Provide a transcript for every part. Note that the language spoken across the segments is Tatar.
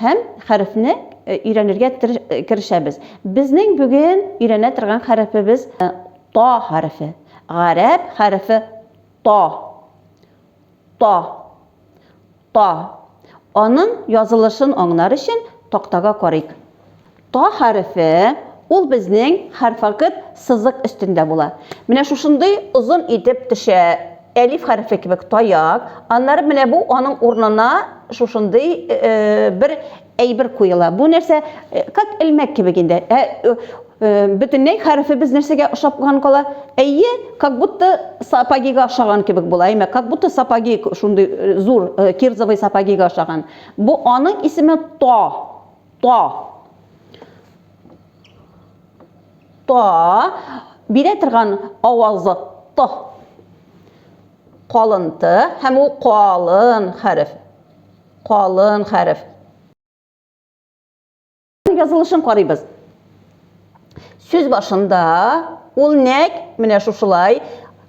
Һәм хәрефне өйрәнергә керешәбез. Безнең бүген өйрәнә торган хәрефебез Та хәрефе. Гарәп хәрефе Та. Та. Та. Аның язылышын аңнар өчен тактага карыйк. Та хәрефе, ул безнең хәрфакыт сызык өстендә була. Менә шушындый озын итеп төшә, әлиф хәрефе кебек таяк, аннары менә бу аның урынына шушындый бер әйбер куела. Бу нәрсә, как элмәк кебек инде. Ә бөтенләй хәрефебез нәрсәгә ошапкан кала? Әйе, как будто сапогига ошаган кебек була, әйме, как будто сапоги шундый зур кирзовый сапогига ошаган. Бу аның исеме то. Та. Та. Бирә торган авазы та. Калын т һәм ул калын хәреф. Калын хәреф. Язылышын карыйбыз. Сүз башында ул нәк менә шушылай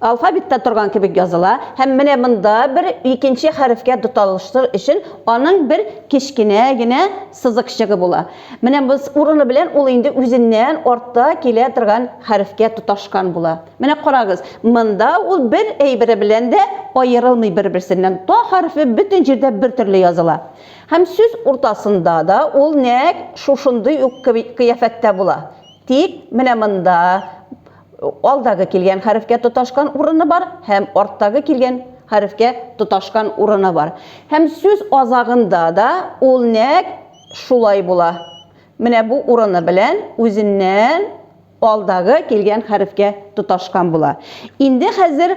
алфавитта торган кебек языла һәм менә монда бер икенче хәрефкә тоталыштыр өчен аның бер кечкенә генә сызыкчыгы була. Менә без урыны белән ул инде үзеннән артта килә торган хәрефкә тоташкан була. Менә карагыз, монда ул бер әйбере белән дә аерылмый бер-берсеннән. Та хәрефе бөтен җирдә бер төрле языла. Һәм сүз уртасында да ул нәкъ шушындый ук кыяфәттә була. Тик менә монда алдагы килгән хәрефкә тоташкан урыны бар һәм арттагы килгән хәрефкә тоташкан урыны бар. Һәм сүз азагында да ул нәкъ шулай була. Менә бу урыны белән үзеннән Алдагы килгән хәрефкә тоташкан була. Инде хәзер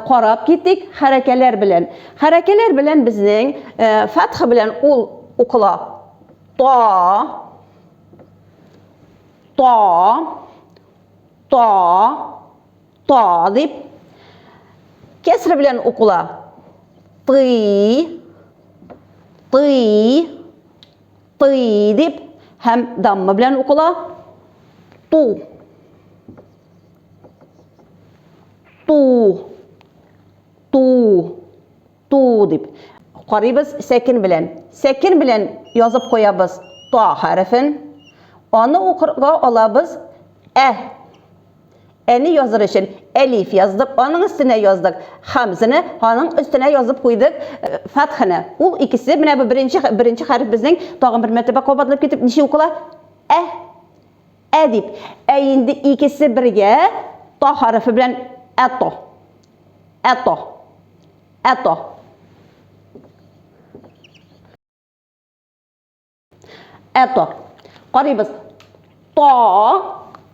карап китик хәрәкәләр белән. Хәрәкәләр белән безнең фәтха белән ул укыла. Та, та, та, та дип. Кәсре белән укыла. Ты, ты, Тый дип һәм дамма белән укыла. Ту. Ту. Ту. Ту дип. Карыйбыз сәкен белән. Сәкен белән язып куябыз та хәрефен. Аны укырга алабыз ә. Әни языр өчен әлиф яздык, аның өстенә яздык хамзаны, аның өстенә язып куйдык э, фатханы. Ул икесе менә бу беренче беренче хәреф безнең тагын бер мәртәбә кабатлап китеп ничә укыла? Ә. Ә дип. Ә инде икесе бергә та хәрефе белән әто. Әто. Әто. Это. Карыйбыз. Та,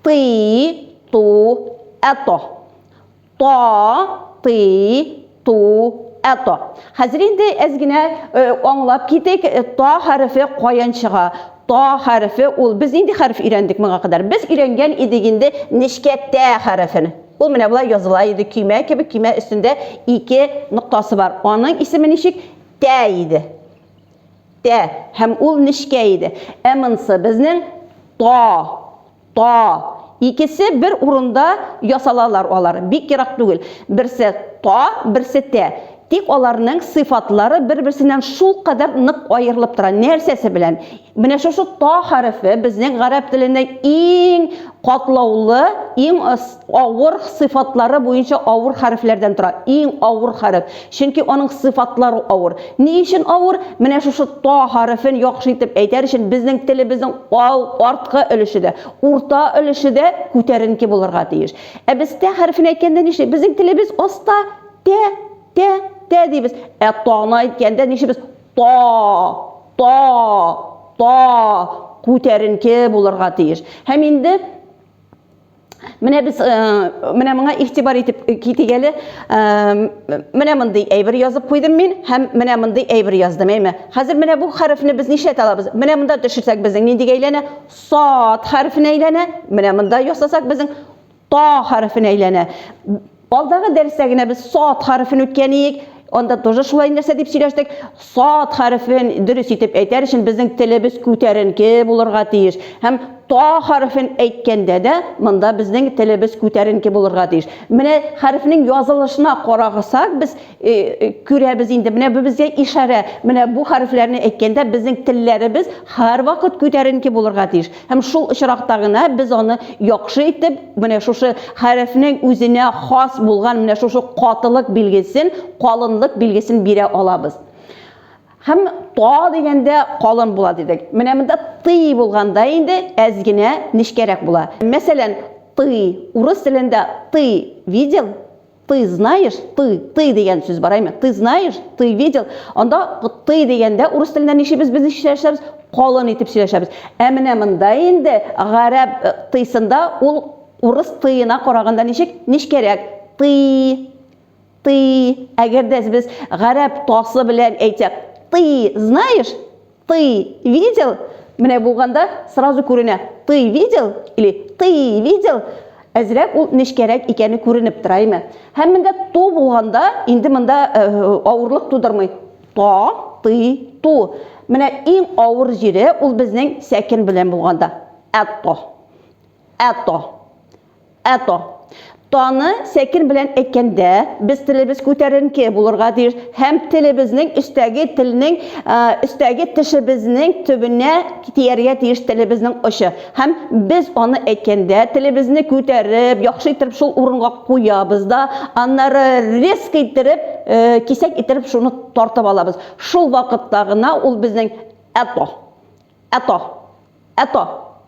ты, ту, это. Та, ты, ту, әто. Хәзер инде әз генә э, аңлап китик, э, та хәрефе каян чыга. Та хәрефе ул без нинди хәреф өйрәндек моңа кадәр? Без өйрәнгән идек инде нечкә тә хәрефен. Ул менә болай языла иде, көймә кебек, көймә өстендә ике ноктасы бар. Аның исеме ничек? Тә иде. Тә, һәм ул нечкә иде. Ә монсы, безнең Та, Та. Икесе бер урында ясалалар алар, бик ерак түгел. Берсе Та, берсе Тә. Тик аларның сыйфатлары бер-берсеннән шулкадәр нык аерылып тора. Нәрсәсе белән? Менә шушы Та хәрефе безнең гарәп теленең иң катлаулы, иң авыр сыйфатлары буенча авыр хәрефләрдән тора. Иң авыр хәреф. Чөнки аның сыйфатлары авыр. Ни өчен авыр? Менә шушы та хәрефен яхшы итеп әйтәр өчен безнең телебезнең ал, арткы өлеше дә, урта өлеше дә күтәренке булырга тиеш. Ә без тә хәрефен әйткәндә нишли? Безнең телебез аста, тә, тә, тә дибез. Ә таны әйткәндә нишибез? Та, та, та, күтәренке булырга тиеш. Һәм инде Менә без менә моңа игътибар итеп китик әле. Менә мондый әйбер язып куйдым мин һәм менә мондый әйбер яздым, әйме. Хәзер менә бу хәрефне без нишләтә алабыз? Менә монда төшерсәк безнең ниндигә әйләнә? Сад хәрефенә әйләнә. Менә монда ясасак безнең та хәрефенә әйләнә. Алдагы дәрестә генә без сад хәрефен үткән иек. Анда тоже шулай нәрсә дип сөйләштек. Сад хәрефен дөрес итеп әйтәр өчен безнең телебез күтәренке булырга тиеш. Һәм та хәрефен әйткәндә дә монда безнең телебез күтәренке булырга тиеш. Менә хәрефнең язылышына карагысак, без э, э, күрәбез инде. Менә бу безгә ишарә. Менә бу хәрефләрне әйткәндә безнең телләребез һәрвакыт күтәренке булырга тиеш. Һәм шул очракта гына без аны яхшы итеп менә шушы хәрефнең үзенә хас булган менә шушы катылык билгесен, калынлык билгесен бирә алабыз. Һәм та дигәндә калын була дидек. Менә монда ты булганда инде әз генә нечкәрәк була. Мәсәлән, ты, урыс телендә ты видел? Ты знаешь, ты, ты дигән сүз бар әйме? Ты знаешь, ты видел. Анда ты дигәндә урыс телендә ничибез без ничек сөйләшәбез? Калын итеп сөйләшәбез. Ә менә монда инде гарәп э, тыйсында ул урыс тыена караганда ничек? Нечкәрәк. Ты, ты. Әгәр дә без гарәп тасы белән әйтсәк, ты знаешь, Ты видел? Менә булганда сразу күренә. Ты видел? Или ты видел? Әзрәк ул нечкәрәк икәне күренеп тора, әйме? Һәм менә ту булганда инде монда э, авырлык тудырмый. Та, ты, ту. Менә иң авыр җире ул безнең сәкен белән булганда. Әтто. Әтто. Әто. Таны сәкен белән әйткәндә, без телебез күтәренке булырга тиеш һәм телебезнең өстәге телнең өстәге тешебезнең төбенә тияргә тиеш телебезнең очы. Һәм без аны әйткәндә, телебезне күтәреп, яхшы иттереп шул урынга куябыз да, аннары резко иттереп, кисәк иттереп шуны тартып алабыз. Шул вакытта гына ул безнең әто. Әто. Әто.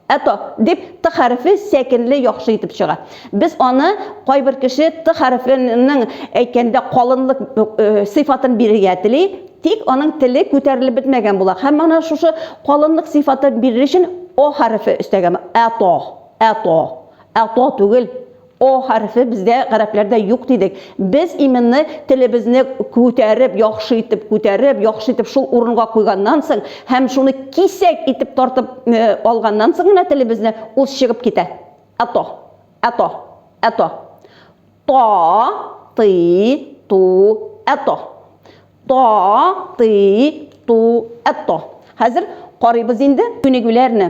Әто. Дип, т хәрефе сәкенле яхшы итеп чыга. Без аны кайбер кеше т хәрефенең әйткәндә калынлык сыйфатын бирергә тели, тик аның теле күтәрелеп бетмәгән була. Һәм ана шушы калынлык сыйфатын бирер өчен о хәрефе өстәгән. Әто. Әто. Әто түгел. О хәрефе бездә гарәпләрдә юк дидек. Без именно телебезне күтәреп, яхшы итеп күтәреп, яхшы итеп шул урынга куйганнан соң һәм шуны кисәк итеп тартып алганнан соң гына телебезне ул чыгып китә. Ато, ато, ато. Та, ты, ту, ато. Та, ты, ту, ато. Хәзер карыйбыз инде күнегүләрне.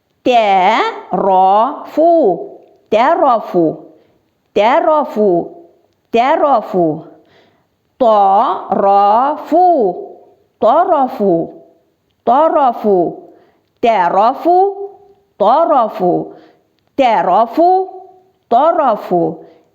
Тә-ра-фу, тә-ра-фу, тә-ра-фу, тә-ра-фу. Та-ра-фу, та-ра-фу, та-ра-фу, тә-ра-фу, та-ра-фу, тә-ра-фу, та-ра-фу,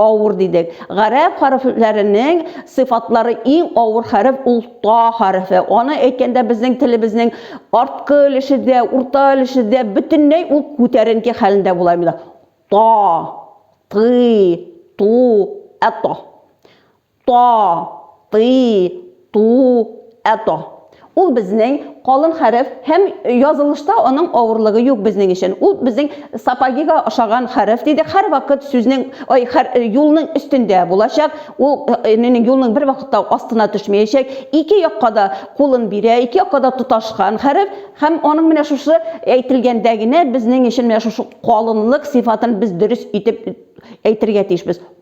Авыр дидек. Гарәп хәрефләренең сыйфатлары иң авыр хәреф ул та хәрефе. Аны әйткәндә безнең телебезнең арткы өлеше дә, урта өлеше дә бөтенләй ул күтәренке хәлендә була имда. Та, ты, ту, әто. Та, ты, ту, это. Ул безнең калын хәреф һәм язылышта аның авырлыгы юк безнең өчен. Ул безнең сапогига ошаган хәреф дидек. Һәрвакыт сүзнең, ой, хәр, юлның өстендә булачак. Ул эненең юлның бервакытта астына төшмәячәк. Ике якка да кулын бирә, ике якка да тоташкан хәреф. Һәм аның менә шушы әйтелгәндә генә безнең өчен менә шушы калынлык сыйфатын без дөрес итеп әйтергә тиешбез.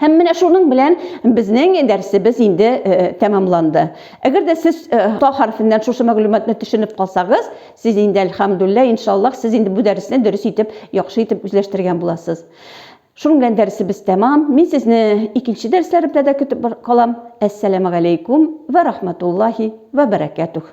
Һәм менә шуның белән безнең дәрсебез инде тәмамланды. Әгәр дә сез та хәрфеннән шушы мәгълүматны төшенеп калсагыз, сез инде әлхәмдуллә, иншаллаһ, сез инде бу дәресне дөрес итеп, яхшы итеп үзләштергән буласыз. Шуның белән дәресебез тәмам. Мин сезне икенче дәресләребездә дә көтеп калам. Әссәламәгаләйкүм вә рахматуллаһи вә бәрәкәтүх.